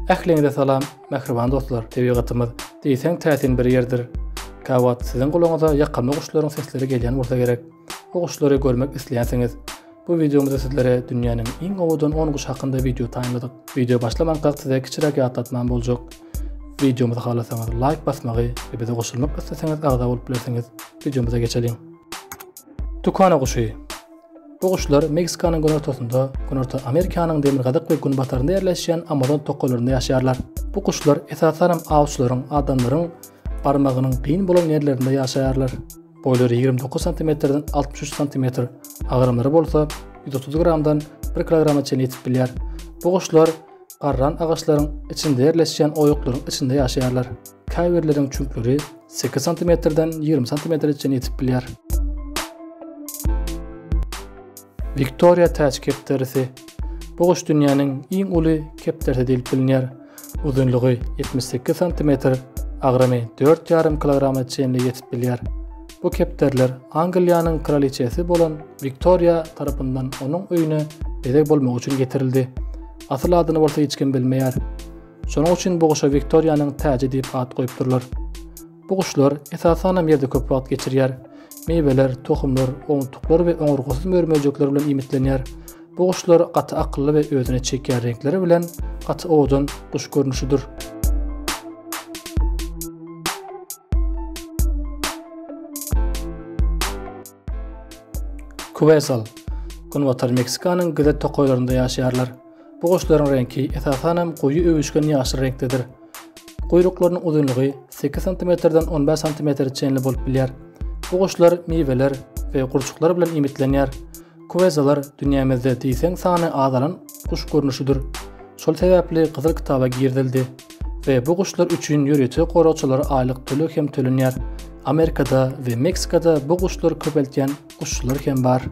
Ähliňize salam, mähriban dostlar. Tebigatymyz diýseň täsin bir ýerdir. Käwagt siziň gulagyňyza ýakymly guşlaryň sesleri gelýän bolsa gerek. Bu guşlary görmek isleýänsiňiz. Bu wideomyzda sizlere dünýäniň iň owadan 10 guş hakynda wideo taýynladyk. Wideo başlamankaak size kiçiräk ýatlatmam boljak. Wideomyzy halasaňyz laýk basmagy we bize goşulmak isleseňiz agza bolup bilersiňiz. Wideomyza geçeliň. Tukana guşy. Bu guşlar Meksikanyň günortasynda, Günorta Amerikanyň demirgazyk we günbatarynda ýerleşýän Amazon tokalarynda ýaşaýarlar. Bu guşlar esasanam awçylaryň, adamlaryň barmagynyň kyn bolan ýerlerinde ýaşaýarlar. Boýlary ýigrimi dokuz santimetrden altmyş üç santimetr, agramlary bolsa ýüz otuz gramdan bir kilograma çenli ýetip bilýär. Bu guşlar garran agaçlaryň içinde ýerleşýän oýuklaryň içinde ýaşaýarlar. Käbirleriň çüňkleri 8 santimetrden 20 santimetre çenli ýetip bilýär. Viktoriýa täç kepderisi. Bu guş dünýäniň iň uly kepderisi diýlip bilinýär. Uzynlygy 78 santimetr, agramy 4,5 kilograma çenli ýetip bilýär. Bu kepderler Angliýanyň kraliçesi bolan Viktoriýa tarapyndan onuň öýüne bezeg bolmagy üçin getirildi. Asyl adyny bolsa hiç kim bilmeýär. Şonuň üçin bu guşa Wiktoriýanyň täji diýip at goýupdyrlar. Bu guşlar esasanam ýerde köp wagt geçirýär. Miweler, tohumlar, owuntuklar we oňurgasyz mör-möjekler bilen iýmitlenýär. Bu guşlar gaty akylly we özüne çekýän reňkleri bilen gaty owadan guş görnüşidir. Kuwesal. Günbatar Meksikanyň gyza tokaýlarynda ýaşaýarlar. Bu guşlaryň reňki esasan hem goýy öwüşgin ýaşyl reňkdedir. Guýruklarynyň uzynlygy 8 sm-den 15 sm-e çenli bolup bilýär. Bu guşlar miweler we gurçuklar bilen iýmitlenýär. Kuwezalar dünýämizde diýseň sany azalan guş görnüşidir. Şol sebäpli Gyzyl kitaba girizildi we bu guşlar üçin ýörite goragçylara aýlyk töleg hem tölenýär. Amerikada we Meksikada bu guşlary köpeltýän guşçular hem bar.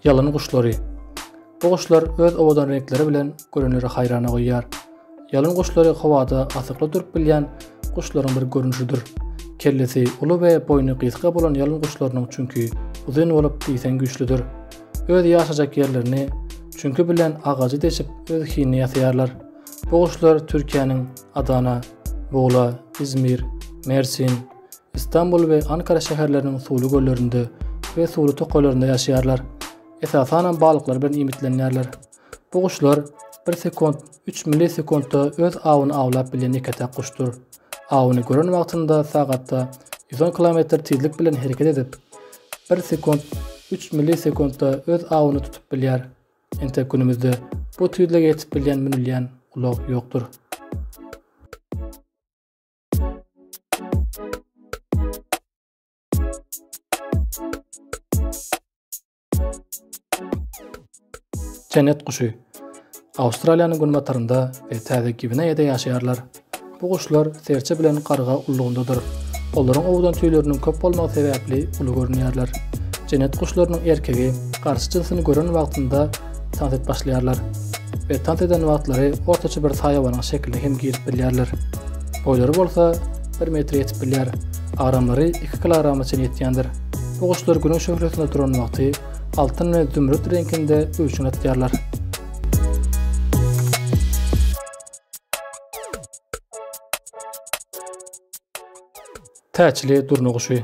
Ýalyn guşlary. Bu guşlar öz owadan reňkleri bilen görenleri haýrana goýýar. Ýalyn guşlary howada asykly durup bilýän guşlaryň bir görnüşidir. Kellesi uly we boýny gysga bolan ýalyn guşlarynyň çünki uzyn bolup diýseň güýçlüdir. Öz ýaşajak ýerlerini çünki bilen agajy deşip öz hinini ýasaýarlar. Bu guşlar Türkiýäniň Adana, Bugla, Izmir, Mersin, Istanbul we Ankara şäherleriniň suwly göllerinde we suwly tokaýlarynda ýaşaýarlar. Esasanam balyklar bilen iýmitlenýärler. Bu guşlar bir sekund üç millisekundda öz awyny awlap bilen ýeke-täk guşdur. Awyny gören wagtynda sagatda ýüz on kilometr tizlik bilen hereket edip, bir sekund üç millisekundda öz awyny tutup bilýär. Entek günümüzde bu tizlige ýetip bilýän münülýän ulag ýokdur. Jennet guşy. Awstraliýanyň günbatarynda we Täze Gwineýada ýaşaýarlar. Bu guşlar serçe bilen garga ullugyndadyr. Olaryň owdan tüýleriniň köp bolmagy sebäpli uly görünýärler. Jennet guşlarynyň erkegi garşy jynsyny gören wagtynda tans et başlaýarlar we tans eden wagtlary ortaça bir saýawanyň şekiline hem girip bilýärler. Boýlary bolsa bir metre ýetip bilýär, agramlary iki kilograma çenli ýetýändir. Bu guşlar Günüň şöhlesinde duran wagty altyn we zümrüt reňkinde öwşün atýarlar. Täçli durna guşy.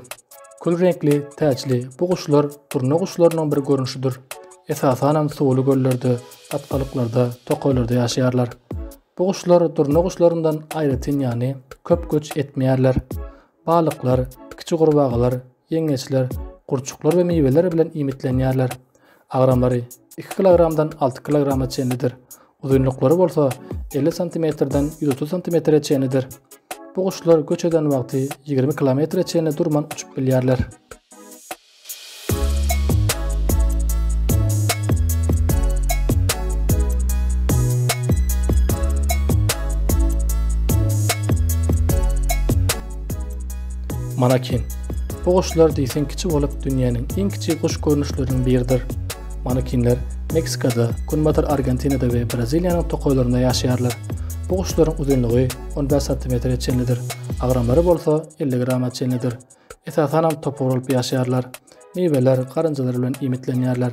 Kül reňkli täçli bu guşlar durna guşlarynyň bir görnüşidir. Esasan hem suwly göllerde, atgalyklarda, tokaýlarda ýaşaýarlar. Bu guşlar durna guşlaryndan aýratyn ýany köp göç etmeýärler. Balyklar, kiçi gurbagalar, ýeňňeçler, gurçuklar we miweler bilen iýmitlenýärler. Agramlary iki kilogramdan alty kilograma çenlidir, uzynlyklary bolsa elli santimetrden ýüz otuz santimetre çenlidir. Bu guşlar göç eden wagty ýigrimi kilometre çenli durman uçup bilýärler. Manakin. Bu guşlar diýseň kiçi bolup, dünýäniň iň kiçi guş görnüşleriniň biridir. Manakinler Meksikada, Günbatar Argentinada we Braziliýanyň tokaýlarynda ýaşaýarlar. Bu guşlaryň uzynlygy on bäş santimetre çenlidir, agramlary bolsa elli grama çenlidir. Esasanam topar bolup ýaşaýarlar. Miweler, garynjalar bilen iýmitlenýärler.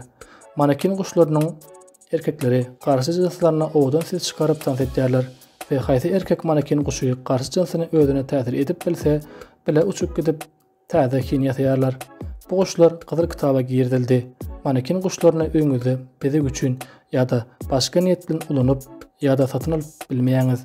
Manekin guşlarynyň erkekleri garşy jynslarynda owadan ses çykaryp tans etýärler we haýsy erkek manekin guşy garşy jynsyny özüne täsir edip bilse, bile uçup gidip, täze hin ýasaýarlar. Bu guşlar Gyzyl kitaba girizildi. Manekin guşlaryny öýüňizde bezeg üçin ýa-da başga niýet bilen ulanyp ýa-da satyn alyp bilmeýäňiz.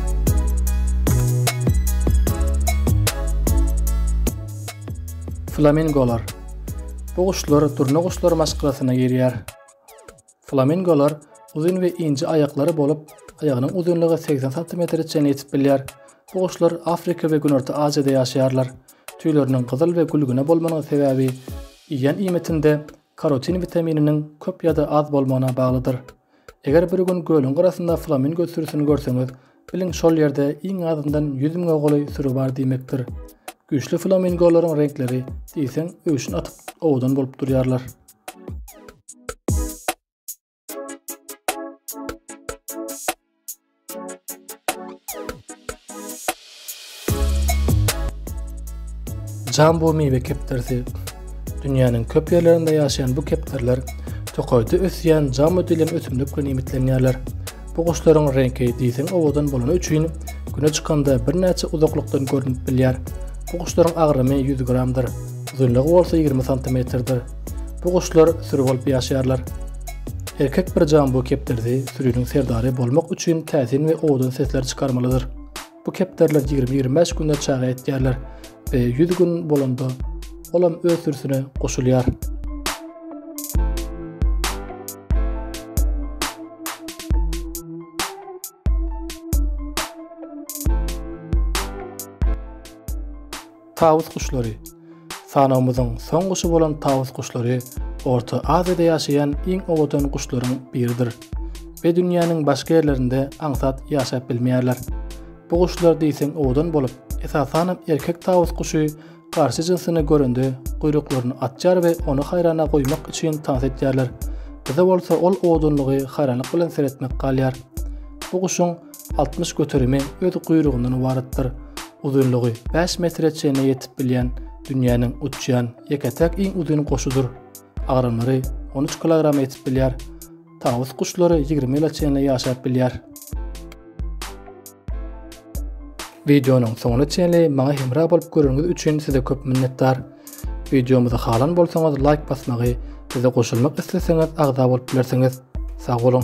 Flamingolar Bu guşlar durna guşlar maşgalasyna girýär. Flamingolar uzyn we ince aýaklary bolup, aýagynyň uzynlygy 80 santimetre çenli ýetip bilýär. Bu guşlar Afrika we Günorta Aziýada ýaşaýarlar. Tüýleriniň gyzyl we gülgüne bolmanyň sebäbi iýýän iýmitinde Karotin witamininiň köp ýa-da az bolmagyna baglydyr. Eger bir gün gölüň gyrasynda flamingo sürüsini görseňiz, biliň şol ýerde iň azyndan ýüz müňe golaý süri bar diýmekdir. Güýçli flamingolaryň reňkleri diýseň öwşün atyp owadan bolup durýarlar. Jambu miwe kepderisi Dünýäniň köp ýerlerinde ýaşaýan bu kepderler tokaýda ösýän jamu diýlen ösümlik bilen iýmitlenýärler. Bu guşlaryň reňki diýseň owadan bolany üçin güne çykanda birnäçe uzaklykdan görnüp bilýär. Bu guşlaryň agramy 100 gramdyr, uzynlygy bolsa 20 santimetrdir. Bu guşlar süri bolup ýaşaýarlar. Erkek bir jambu kepderisi süriniň serdary bolmak üçin täsin we owadan sesler çykarmalydyr. Bu kepderiler ýigrimi-ýigrimi bäş günde çaga etýärler we ýüz gün bolanda olam öz sürüsine goşulýar. Tawus guşlary. Sanawymyzyň soň guşy bolan tawus guşlary Orta Aziýada ýaşaýan iň owadan guşlaryň biridir we dünýäniň başga ýerlerinde aňsat ýaşap bilmeýärler. Bu guşlar diýseň owadan bolup, esasanam erkek tawus guşy garşy jynsyny görende guýruklaryny atýar we ony haýrana goýmak üçin tans edýärler. Bize bolsa ol owadanlygy haýranlyk bilen seretmek galýar. Bu guşuň 60 göterimi öz guýrugyndan ybaratdyr. Uzynlygy bäş metre çenli ýetip bilýän dünýäniň uçýan ýeke-täk iň uzyn guşudyr. Agramlary on üç kilograma ýetip bilýär. Tawus guşlary ýigrimi ýyla çenli ýaşap bilýär. Wideonyň soňuna çenli maňa hemra bolup göreniňiz üçin size köp minnetdar. Wideomyzy halan bolsaňyz laýk basmagy, bize goşulmak isleseňiz agza bolup bilersiňiz. Sag boluň!